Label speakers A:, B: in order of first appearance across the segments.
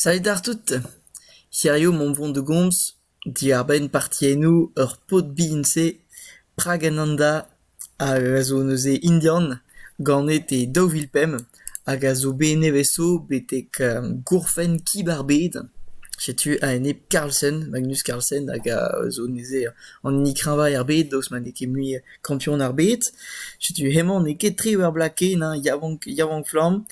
A: Salud àr tout. Hiziv omp o vont da gomz diàr-benn partiennoù ur paotr bihan-se Pragananda a zo neuze indian, ganet e daou vil pemp hag a zo bet nevez-zo betek gourfenn Kib ar Bed. Setu a-enep Carlsen, Magnus Carlsen hag a zo neuze an hini kreñvañ er bed daoust ma n'eo ket mui... Kanton ar Bed. Setu hemañ n'eo ket tre ur bloaz ken hein, yaouank yaouank-flamm.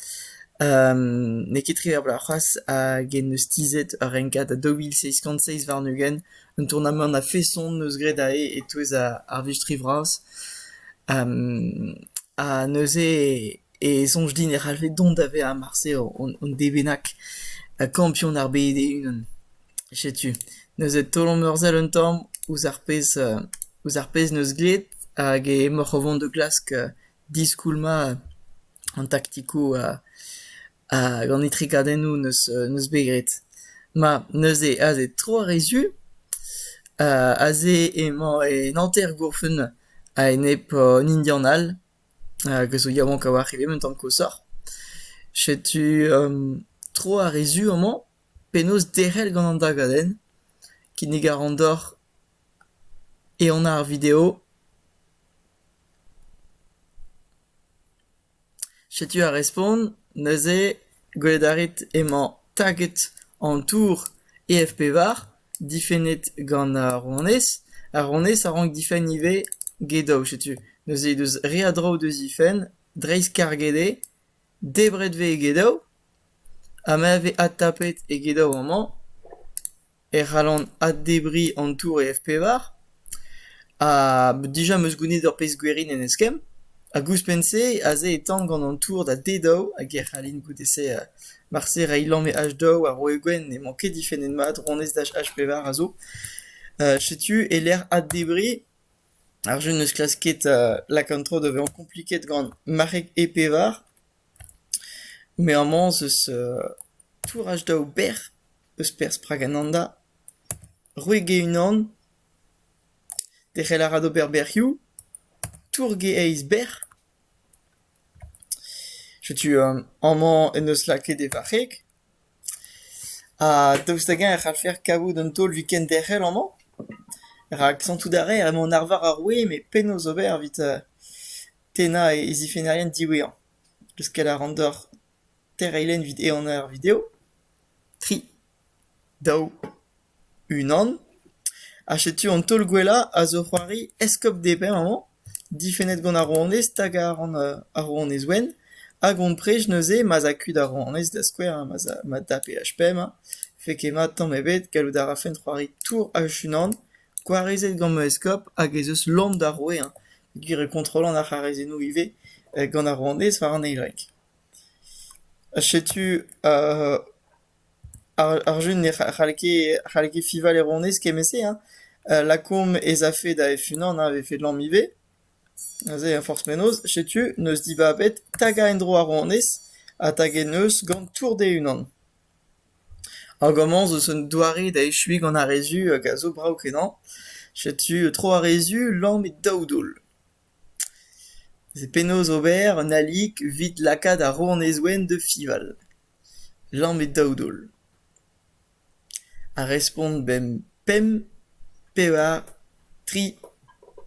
A: n'eo ket tre ur bloaz c'hoazh hag en-deus tizhet ur renkad a daou vil seizh kant seizh warn-ugent. Un tournamant a-feson 'neus graet aze e-touez ar vistri vras. ha neuze e soñj din e c'hallfe dont da vezañ marse hon devenag kampion ar bed e-unan. Setu neuze taol an eur-sell un tamm ouzh ar pezh ouzh ar pezh 'neus graet hag emaoc'h o vont da glask diskoulmañ an taktikoù hag an etrekadennoù 'neus 'neus bet graet. Ma neuze aze tro ar re zu aze emañ en hanter-gourfenn a-enep an Indian all hag a zo yaouank a-walc'h evel un tamm koshoc'h. Setu tro ar re zu amañ. Penaos derc'hel gant an dagadenn kinnig a ran deoc'h ehan ar video. Setu ar respont. Neuze gwelet a rit emañ taget an tour EFP-var, difennet gant ar rouanez. Ar rouanez a rank difenn ivez get daou. Setu neuze he deus re a draoù da zifenn, dreist-karget eo. Debret vez egedaou ha ma vez adtapet egedaou amañ e c'hallan addebriñ an tour e F-pevar ha dija 'm eus gounid ur pezh gwerin en eskemm hag ouzhpenn-se aze e tan gant an tour da d-daou hag e c'hallin goude-se marse reiñ lamm e h-daou ha roiñ gwenn n'emañ ket difennet mat ronez dach h-pevar a zo. Setu e-lec'h addebriñ. Ar jeu n'eus klask ket lakaat an traoù da vezañ kompliket gant marc'heg e-pevar, met amañ ez eus touraj daou bec'h eus perzh Pragananda, rouegelc'h unan, derc'hel a ra d'ober bec'hioù, tourge eizh bec'h. Setu amañ en deus lakaet e varc'heg ha daoust hag-eñ e c'hallfer kavout un taol week-end derc'hel amañ rak santout a raer emañ an arvar ar wezh met penaos ober evit tennañ e zifennerien diwezhañ. Leuskel a ran deoc'h teir eilenn evit ehan ar video. Tri, daou. Unan, ha setu an taol gwellañ a zo c'hoari eskob Depin amañ, difennet gant ar rouanez stag a ran ar rouanez wenn, hag hon prej neuze ma'z a kuit ar rouanez da skouer ha ma'z a ma dapeaj pemp, fait ket mat tamm ebet gallout a rafen c'hoari tour H-unan gwarezet gant ma eskob hag ez eus lamm d'ar roue hañ, gwir eo kontrollan ar c'harazennoù ivez gant ar rouanez war an eil rek. Ha setu Ar jeu ne c'hall ket fiñval e ronez kement-se hein, lakaomp ez afe da F-unan a vefe lamm ivez, neuze forzh penaos. Setu n'eus dibabet tagañ en-dro ar ronez ha taget neus gant tour d-e-unan. Hag amañ zo un doare da echuiñ gant ar re zu hag a zo brav-kenañ. Setu tro ar re zu, lamm e daou daol. Vez penaos ober un alik evit lakaat ar rouanez-ouenn da fiñval. Lamet daou daol. Ar respont bemp pemp, pevar, tri,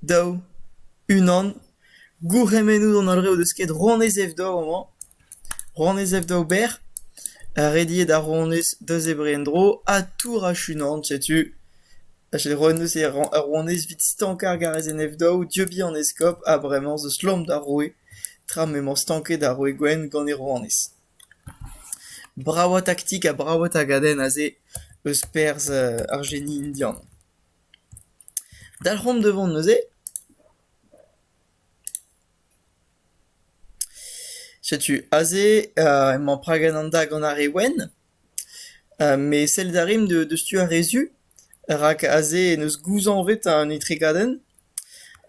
A: daou, unan. Gourc'hemennoù d'an holl re o deus kaet rouanez Evdor amañ. Ronez Evdaober, rediet ar ronez da zebriñ en-dro ha tour achunant, setu a selaou neuze ar ronez evit stankañ ar garezenn Evdav dieubiñ an eskob ha bremañ zo slom d'ar roue tra m'emañ stanket ar roue gwenn gant e ronez. Bravañ taktik ha bravañ tagadenn aze eus perzh ar geni indian. Dalc'homp da vont neuze. Setu aze emañ Pragananda gant ar re wenn, met sellet a rin deus tu ar re su, rak aze en deus gouzañvet an etregadenn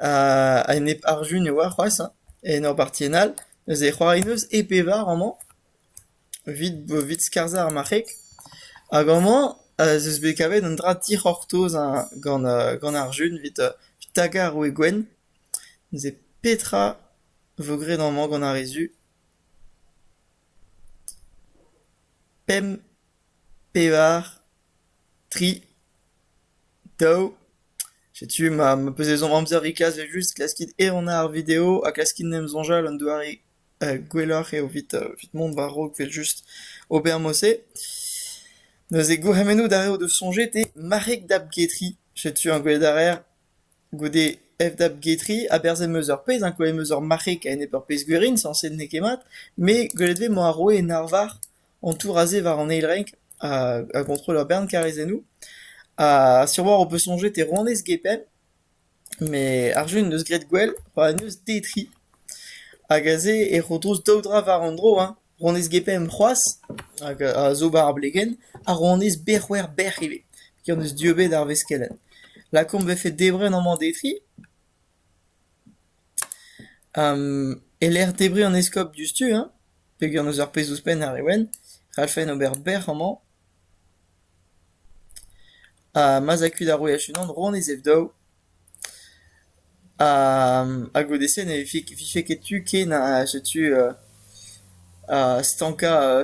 A: ha enep ar Jun e oa c'hoazh hein, en ur bartienn all. Neuze e c'hoari 'neus e pevar amañ, evit skarzhañ ar marc'heg. Hag amañ ez eus bet kavet un dra dic'hortoz gant gant ar Jun evit tagañ ar roue gwenn. Neuze petra vo graet amañ gant ar re zu ? Pemp, pevar, tri, daou. Setu ma ma peus ezhomm amzer e-kas evel-just klaskit ehanañ ar video ha klaskit en em soñjal un doare gwelloc'h eo evit evit mont war-raok evel-just ober mod-se. Neuze gourc'hemennoù d'ar re o deus soñjet eo marc'heg da bgetiñ. Setu an gwel da rer. Goude FW-Getri, aberzh em eus ur pezh, hein, kouezhet em eus ur marc'heg a-enep ur pezh gwerin, sañset n'eo ket mat, me gwelet vez emañ ar roue en arvar an tour aze war an eil renk ha a gontrol ur bern karrezennoù. Ha siwazh ho peus soñjet e rouanez Gepin, met ar jeu en deus graet gwell, c'hoant en deus detriñ. Hag aze e ro drouz daou dra war an dro, hein. Ronez Gepemp c'hoazh, hag a zo war ar blegenn, ha ronez Berc'hwec'h-Bec'h ivez, ken eus dieubet ar veskelenn. Lakaomp 'vefe debret amañ defi. E-lec'h debriñ an eskob diouzhtu hein, peogwir n'eus ur pezh ouzhpenn àr e ouenn, c'hallfen ober bec'h amañ. Ha ma'z a kuit ar wech unan, ronez Ev-Daou. Ha goude-se ne vije ket tu ken ha setu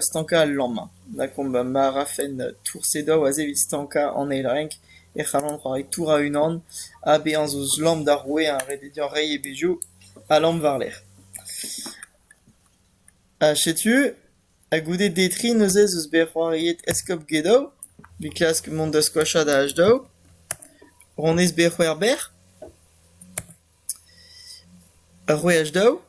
A: stankañ al lamm. Lakaomp ma rafen toursedoù aze evit stankañ an eil renk e c'hallan c'hoari tour a-unan ha bezañ zo eus lamm d'ar roue ha reiñ e bezhioù ha lamm war-lerc'h. Ha setu. Ha goude detriñ neuze ez eus bet c'hoariet Eskob Gedow, bet klask mont da skoachañ da H-Dow, Ronez bet c'hwec'hber, ur wech daou.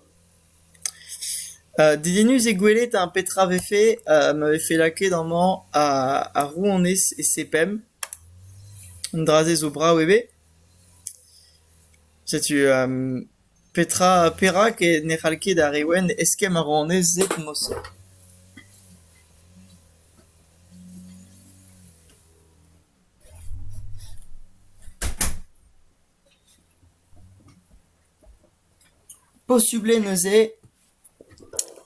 A: Uh, dedennus eo gwelet hein, petra vefe uh, ma vefe lakaet amañ ar, ar rouanez e sepemp. Un dra-se zo brav eo bet. Setu um, Petra ha perak ne c'hall ket ar re wenn eskemm a ran neuze moused ? Posubl eo neuze.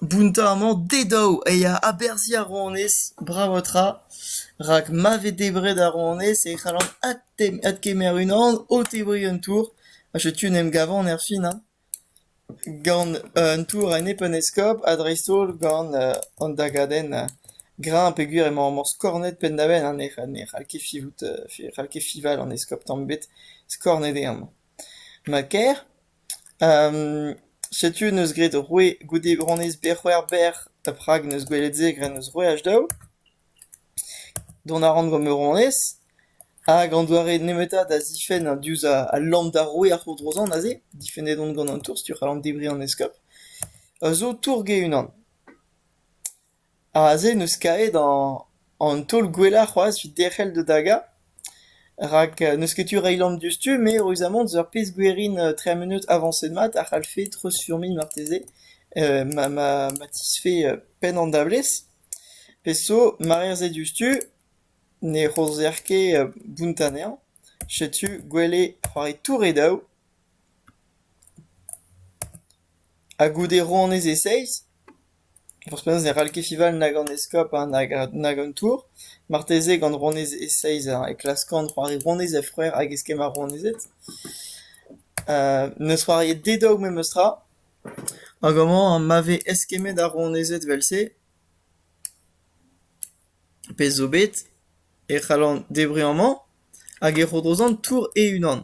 A: Bountañ-mañ dezhañ e ya aberzhiñ ar rouanez bravañ-tra, rak ma vez debret ar rouanez e c'hallan adkemer unan o tebriñ un tour, ha setu en em gavan erfin hein, gant un tour a nep un eskob ha dreist-holl gant an dagadenn greñv peogwir emañ emañ skornet penn-da-benn ha ne c'hall ket fivout, ne c'hall ket fival an eskob tamm ebet skornet eo amañ. Ma ker. Setu neus graet ur roue goude bronez Berc'hwec'hber ha Prag neus gwelet se graet neus roueaj daou. Dont a ran gant ma ronez hag an doare nemetañ da zifenn ha diouzh al lamm d'ar roue ar c'hourdrozañ neuze, difennet on gant an tour, setu e c'hallan debriñ an eskob, a zo tour-ge unan. Aze n'eus kaet an taol gwellañ c'hoazh evit derc'hel da dagañ, rak n'eus ket tu reiñ lamm diouzhtu met reuzamant eus ar pezh gwerin tri munud avañset mat a c'hallfe treuzfurmiñ marteze ma ma ma tizhfe penn an dablez. Pezh zo marerzh eo diouzhtu ne c'homzer ket bunt anezhañ, setu gwell eo c'hoari tour e daou ha goude roan ez e seizh. Ouzhpenn-se ne c'hall ket Fival nag an eskob nag an tour marteze gant rouanez Seiza e klask an c'hoari rouanez he c'hwec'h hag eskemm ar rouanezed. N'eus c'hoariet dedok memestra hag amañ ma vez eskemmet ar rouanezed evel-se, pezh zo bet, e c'hallan debriñ amañ hag e ro dezhañ tour e-unan.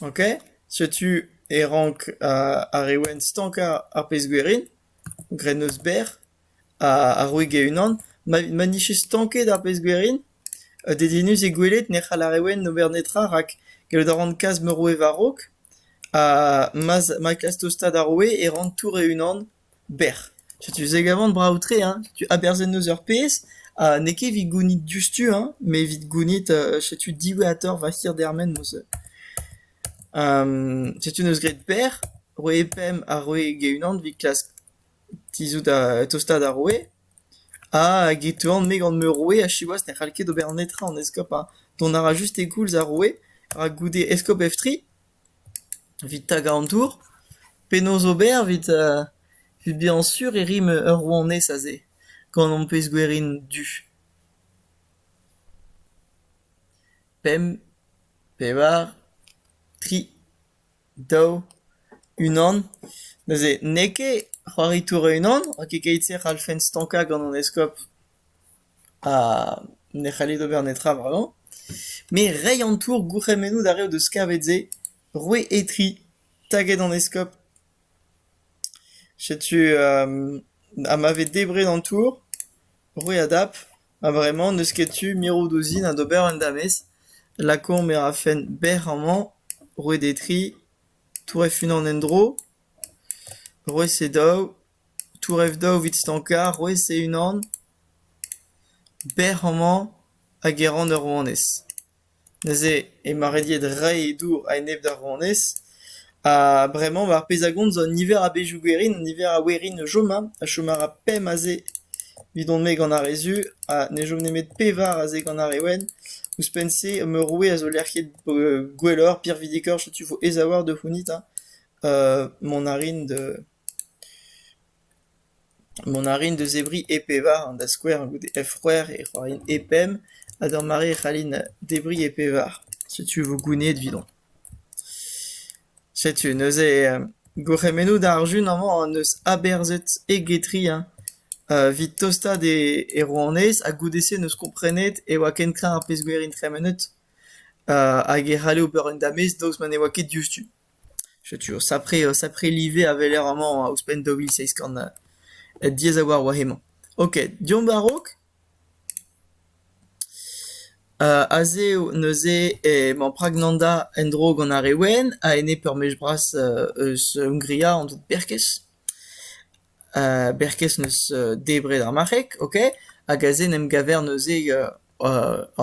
A: Ok, setu e rank ar re wenn stankañ ar pezh-gwerin, grennozh berr ha roig e-unan. Ma nije stanket ar pezh-gwerin, dedennus eo gwelet ne c'hall ar re wenn ober netra rak gallout a ran kas ma roue war-raok ha ma klask tostaat ar roue e ran tour e-unan. Bec'h, setu se gavan brav-tre hein, setu aberzhet 'neus ur pezh ha n'eo ket evit gounit diouzhtu hein, met evit gounit setu diwezhatoc'h va hirdermen 'neus setu 'neus graet bec'h, roe pemp ha roe get-unan evit klask tizhout tostañ da roue ha get toan-me gant ma roue ha siwazh ne c'hall ket ober netra an eskob hein, dont a ra just e koulz ar roue rak goude eskob Eftri. Evit tagañ an tour ? Penaos ober evit evit bezañ sur e rim ur rouanez aze gant ho pezh gwerin du ? Pemp, pevar, tri, daou, unan. Neuze n'eo ket c'hoari tour e-unan, rak e-keit-se e c'hallfen stankañ gant an eskob. ha ne c'halled ober netra bremañ. Me rei an tour gourc'hemennoù d'ar re o deus kavet-se, roue Etri, taget an eskob. Setu ha ma vez debret an tour, roue a dap, ha bremañ n'eus ket tu mirout ouzin ha d'ober un damez. Lakaomp e rafen bec'h amañ, roue d'Etri, tour hec'h-unan en-dro, roue Sedaou. Tourev daou evit stankañ, rouez e-unan, bec'h amañ hag e ran ur rouanez. Neuze emañ rediet reiñ e dour a-enep d'ar rouanez ha bremañ mar pez a gont zo un niver a bezhioù gwerin, un niver a werin o chom hein, a chom a ra pemp aze evidon-me gant ar re zu ha ne chom nemet pevar aze gant ar re wenn. Ouzhpenn-se ma roue a zo lec'h ket gwelloc'h, pirvidikoc'h, setu vo aes a-walc'h da c'hounit hein mont a rin da... Mont a rin da zebriñ e pevar, da skouer gant e f-c'hwec'h e roin e pemp, ha d'ur mare e c'hallin debriñ e pevar. Setu vo gounezet evidomp. Setu neuze gourc'hemennoù d'ar jun amañ hon eus aberzhet e-getri hein, evit tostaat e rouanez ha goude-se n'eus komprenet e oa ken kreñv ar pezh gwerin tremenet hag e c'halle ober un damez daoust ma ne oa ket diouzhtu. Setu o sapre o sapre live a weler amañ ouzhpenn daou vil seizh kant diaes a-walc'h war hemañ. Ok, deomp a-raok. aze neuze emañ Pragnanda en-dro gant ar re wenn a-enep ur mech bras eus Hongria, an dud Berkez. Berkez 'neus debret ar marc'heg, ok, hag aze 'n em gaver neuze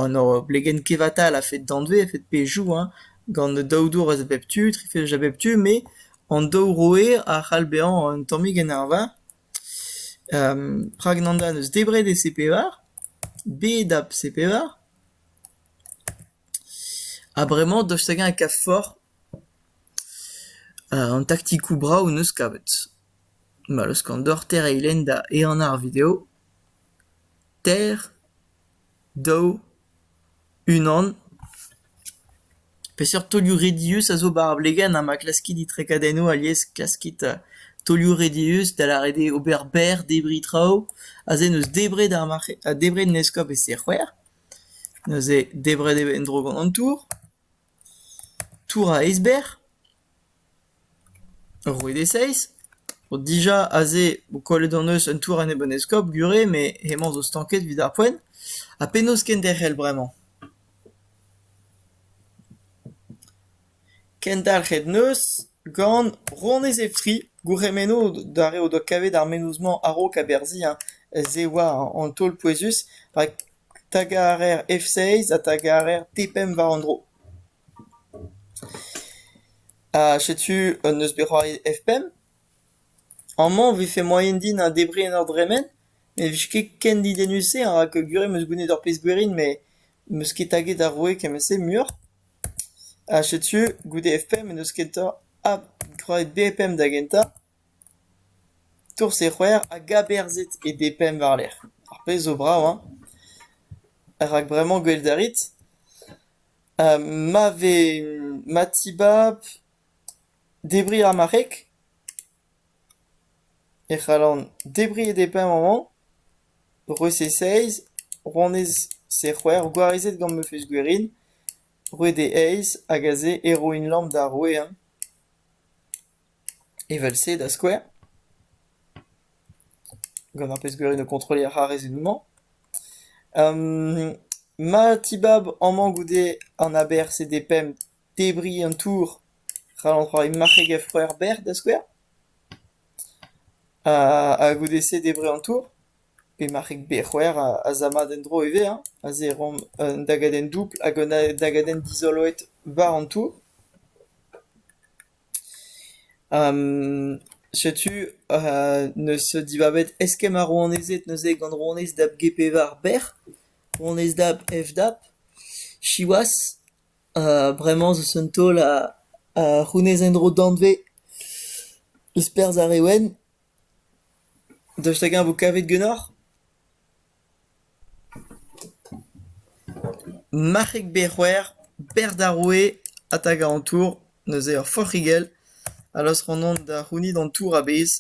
A: an hor blegenn kevatal a-fet danvez, a-fet pezhioù hein, gant daou dour a bep tu, tri fezh a bep tu, met an daou roer a c'hall bezañ un tammig en arvar. Rak Nanda 'neus debret e C-pevar, bet a C-pevar, ha bremañ dost hag-eñ e kav forzh an taktikoù brav 'neus kavet. ma leuskan deoc'h tereiñ-lenn da ehanañ ar video. Teir, daou, unan. Peseurt taolioù redius a zo war ar blegenn ha ma klaskit itrekadennoù alies klaskit taolioù redius da lâret eo ober berr debriñ traoù. Aze n'eus debret ar marc'heg, debret en eskob e-se c'hwec'h. Neuze debret eo en-dro gant an tour. Tour a-eizhber ? Ur wech e-seizh ? Dija aze eo kollet hon eus un tour enep an eskob gure met hemañ zo stanket evit ar poent. Ha penaos kenderc'hel bremañ ? Kendalc'het 'neus gant Ronez Efri, gourc'hemenno d'ar re o doa kavet ar menoz-mañ a-raok aberzhiñ se 'oa an taol pouezus rak. Stag a reer F-seiz ha stag a reer T-pemp war an dro. Ha setu un neus bet c'hoariet F-pemp. Amañ e vefe moaien din debriñ en ur dremen, ne vije ket ken didennus-se rak gure am eus goûnet ur pezh gwerin met m'eus ket taget ar roue kement-se muioc'h. Ha setu goude F-pemp en deus kentañ ha c'hoariet B-pemp da gentañ. Tourse-c'hwec'h a gaberzhed e B-Pemp war-lerc'h, ar pezh zo brav hein ? rak bremañ gwel't a rit, ma vez ma tibab debriñ ar marc'heg, e c'hallan debriñ e D-Pemp amañ, roer se seizh, ronez se c'hwec'h, gwarezet gant ma fezh gwerin, roer de eizh, hag aze e roin lamm d'ar roue hein. Evel-se, da skouer ? Gant ar pezh-gwirion o kontrolliñ ar c'harrezennoù-mañ. ma tibab amañ goude an aber CDPEM debriñ an tour ral an traoù e marc'heg-efc'houer berr da skouer. Ha goude-se debriñ an tour. Pe marc'heg-bec'houer a za mat en-dro ivez hein, aze e roomp un dagadenn doubl hag un dagadenn dizoloet war an tour. Setu neus dibabet eskemm ar rouanezed neuze gant rouanez dab G-pevar bec'h, rouanez dab F-dab. Siwazh bremañ zeus un taol a c'hounez en-dro danvez eus perzh ar re wenn. Daoust hag-eñ e vo kavet ganeoc'h? Marc'heg Bec'hwer, berz d'ar roue ha 'ta gant an tour, neuze ur forc'higell a laosk anvan da c'hounit an tour a-bezh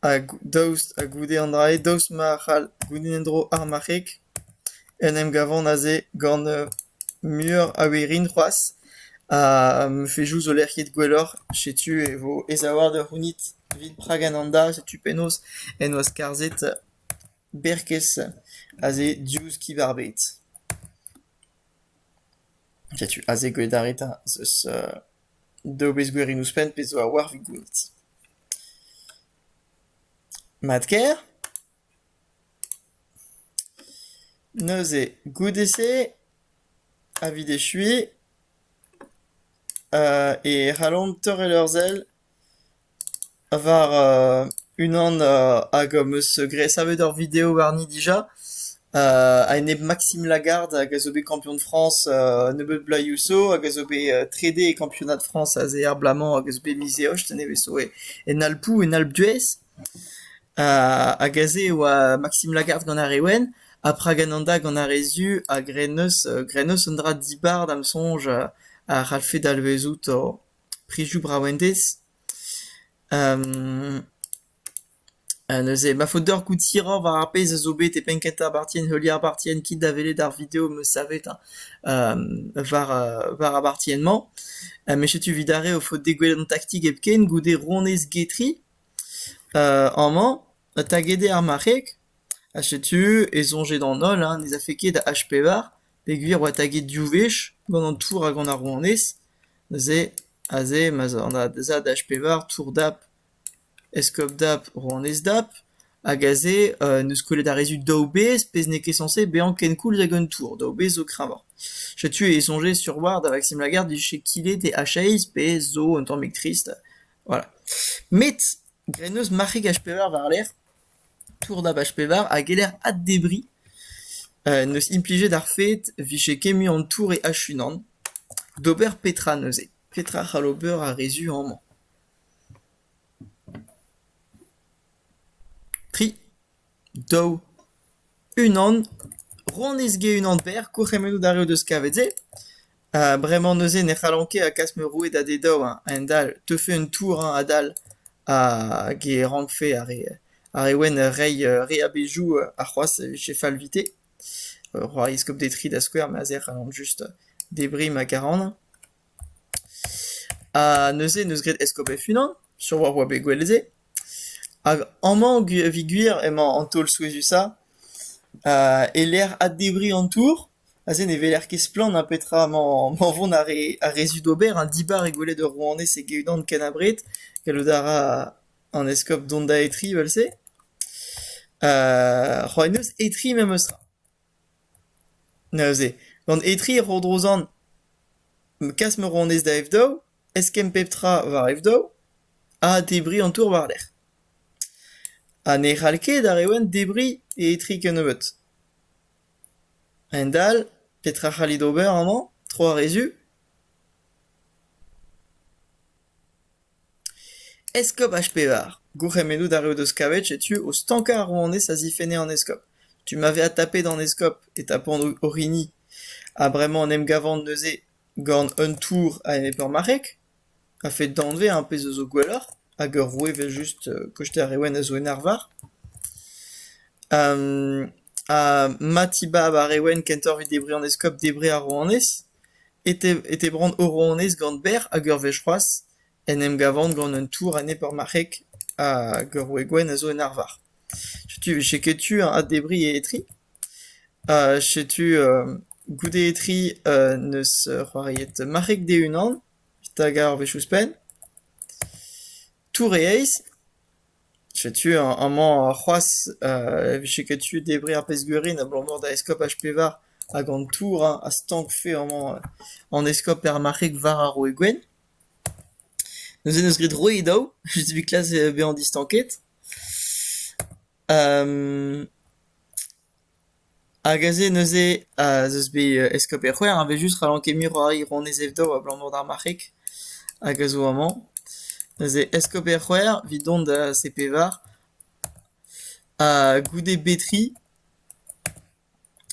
A: hag daoust ha goude an dra-se daoust ma c'hall gounit en-dro ar marc'heg en em gavan aze gant muioc'h a werin c'hoazh ha m'efe jouz ho lec'hiet gwelloc'h setu e vo aesaouart da c'hounit evit Praga-Nanda setu penaos en doa skarzhet Berkez aze diouzh kib ar bed. Setu aze gwelaret az eus daou wezh gwirion ouzhpenn pezh zo a-walc'h evit gwelet. Mat-kaer? Neuze, goude-se, evit echuiñ, e c'hallomp torret ur sell War unan hag am eus graet savet ur video warni dija a-enep Maxime Lagarde hag a zo bet kampion Frañs nebeut bloazioù zo hag a zo bet trede e kampionad Frañs aze er bloaz-mañ hag a zo bet miz Eost nevez zo en Alpoù en Alpes-d'Huez hag aze e oa Maxime Lagarde gant ar re wenn ha Pragananda gant ar re zu hag re neuz an dra dibar da'm soñj a c'hallfe dalvezout Prizioù brav-endez neuze ma faot deoc'h goût hiroc'h war ar pezh a zo bet e penn kentañ parti en heuliañ ar parti en kit da welet ar video am eus savet war war ar parti-en-mañ. met setu 'vit ar re ho faot degouezhet an taktik hepken goude ronez Getri amañ taget eo ar marc'heg ha setu e soñje d'an holl ne zafe ket da H pevar Peogwir e oa taget div wech, gant an tour ha gant ar rouanez, neuze aze ma'z a da h-pevar tour dap eskob dap rouanez dap hag aze en deus kollet ar rezid daou bezh pezh n'eo ket sañse bezañ kenkoulz hag un tour, daou bezh zo kreñvoc'h. Setu e soñjez sur war da Vaksim Lagarde vije kilet e h-eizh pezh zo un tammig trist voilà. Met graet 'neus marc'heg h-pevar war-lerc'h. Tour Dabach pevar a geller addebriñ n'eus implijet ar fed 'vije kemmet an tour e H-unan d'ober petra neuze, petra c'hall ober ar re zu amañ. Tri, daou, unan, rann-ez-ge unan berr, kourc'hemennoù d'ar re o deus kavet se. Ha bremañ neuze ne c'hallan ket a klask ma roue da d' e daou eñ a-hend-all. Teufe un tour eñ adal hag e rankfe ar re ar re wenn reiñ re a bezhioù c'hoazh e vije fallvite. Roy Eskob Detry da skouer, ma se a c'hallan just debriñ ma karanañ. Ha neuze en deus graet Eskob hec'h-unan sur oa oa bet gwell se. Hag amañ evit gwir emañ an taol souezhusañ e-lec'h addebriñ an tour. Aze ne weler ket splann ha petra emañ vont ar re zu d'ober. Un dibar eo gwelet ur rouanez e-unan ken abred. Gallout a ra an eskob dont da etriñ evel-se. c'hoant neus etriñ memes tra. Neuze, gant etriñ e ro dro zan kas ma rouanez da F-daou, eskemm pep tra war F-daou ha debriñ an tour war-lerc'h. Ha ne c'hall ket ar Rewen debriñ e etriñ kennebeut. Hendall, petra a c'hallit ober amañ, tro ar re-zu ? Eskob H-Pevar, gourc'hemennout a reot eus kavet setu o stankañ ar rouanez a zifenne an eskob. Tu ma vez adtapet an eskob e tapont orin-hi. Ha bremañ en em gavan neuze gant un tour a-enep ur marc'heg ? A-fet danvez ar pezh a zo gwelloc'h, hag ur roue evel-just koshter ar Rewen a zo en arvar. ha ma tibab ar Rewen kentoc'h evit debriñ an eskob, debriñ ar rouanez, e te brant o rouanez gant berr hag ur wech c'hoazh en em gavan gant un tour anezhe peurmarc'hek hag ur roue gwenn a zo en arvar. Setu, cheketu a debriñ e etri. Ha setu goude e-tri n'eus c'hoariet marc'heg d'e-unan hag ar wech ouzhpenn. Tour-e-eizh. Setu amañ c'hoazh e vije ket tu debriñ ar pezh-gwerin abalamour da eskob H-Pevar hag an tour hein a stankfe amañ an eskob er marc'heg war ar Roue Gwenn. Neuze 'neus graet Roue daou, 'vit klas bezañ distanket. Hag aze neuze ez eus bet eskob Erc'hwec'h a vez just ra n'on ket mui roari ronez evitañ abalamour d'ar marc'heg hag a zo amañ. Neuze eskob Erc'hwec'h evit dont da C-Pevar ha goude Betri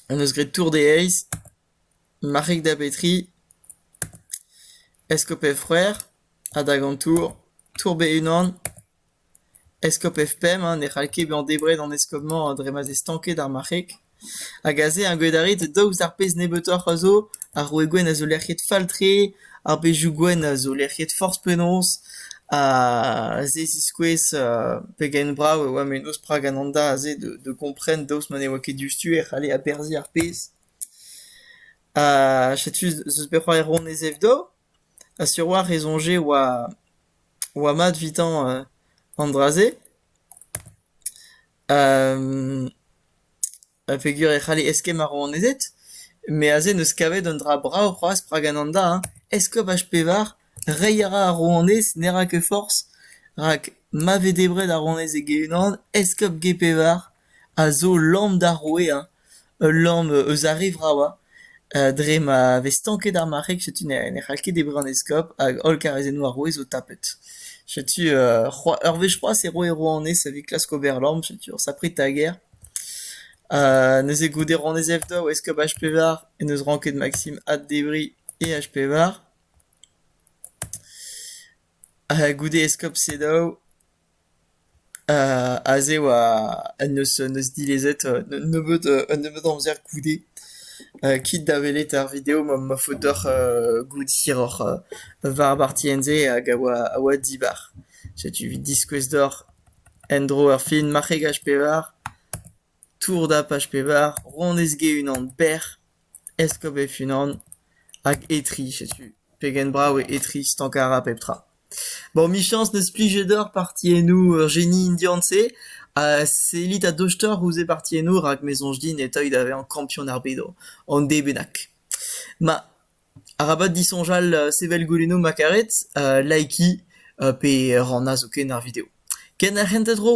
A: hon eus graet tour d'e heiz, marc'heg da Betri, eskob Erc'hwec'h, adhag an tour, tour be unan. Eskob Efpem ne c'hall ket bezañ debret an eskob-mañ dre ma 'z eo stanket ar marc'heg hag aze ar gwedarid daoust d'ar pezh nebeutoc'h a zo, ar roue gwenn a zo lec'hiet fall-tre, ar bezhioù gwenn a zo lec'hiet forzh penaos ha se ziskouez pegen brav e oa mennozh Pragananda aze da gompren daoust ma ne oa ket diouzhtu e c'halle aberzhiñ ar pezh. Ha setu 'z eus bet c'hoari Ronez Evdo. Ha sur-walc'h e soñje oa oa mat evitañ an dra-se. A peger e c'halle eskemm ar rouanezed, met aze n'eus kavet un dra brav c'hoazh rak Ananda hein, eskob H-pevar, reiñ a ra ar rouanez ne ra ket forzh, rak ma vez debret ar rouanez e-unan, eskob G-pevar. a zo lamm d'ar roue hein, ul lamm eus ar re vravañ dre ma vez stanket ar marc'heg setu ne c'hall ket debriñ an eskob hag holl karrezennoù ar roue zo tapet. Setu ur wech c'hoazh e roe rouanez evit klask ober lamm setu ur sapre tager. neuze goude rouanez Evdom, eskob H-Pevar en deus ranket Maksim addebriñ e H-Pevar. goude eskob Sedaou Aze 'oa un neus un neus dilezet un nebeud un nebeud amzer goude kit da welet ar video ma ma faot deoc'h goût hiroc'h war ar bartienn-se hag a oa a oa dibar. Setu evit diskouez deoc'h en-dro ur film marc'hegaj pevar, tour dapaj pevar, ronez-ge unan berr. Eskob e-unan hag Etri, setu pegen brav eo Etri stankarañ pep tra. Bon, 'michañs n'eus plije deoc'h partiennoù ur jeni indian-se ha sellit a-dochtoc'h ouzh e partiennoù rak me soñj din e teuy da vezañ kampion ar bedo, an d bennak. Ma, arabat disoñjal sevel goulennoù ma karet, likii pe rannañ zoken ar video. Ken ar c'hentañ tro!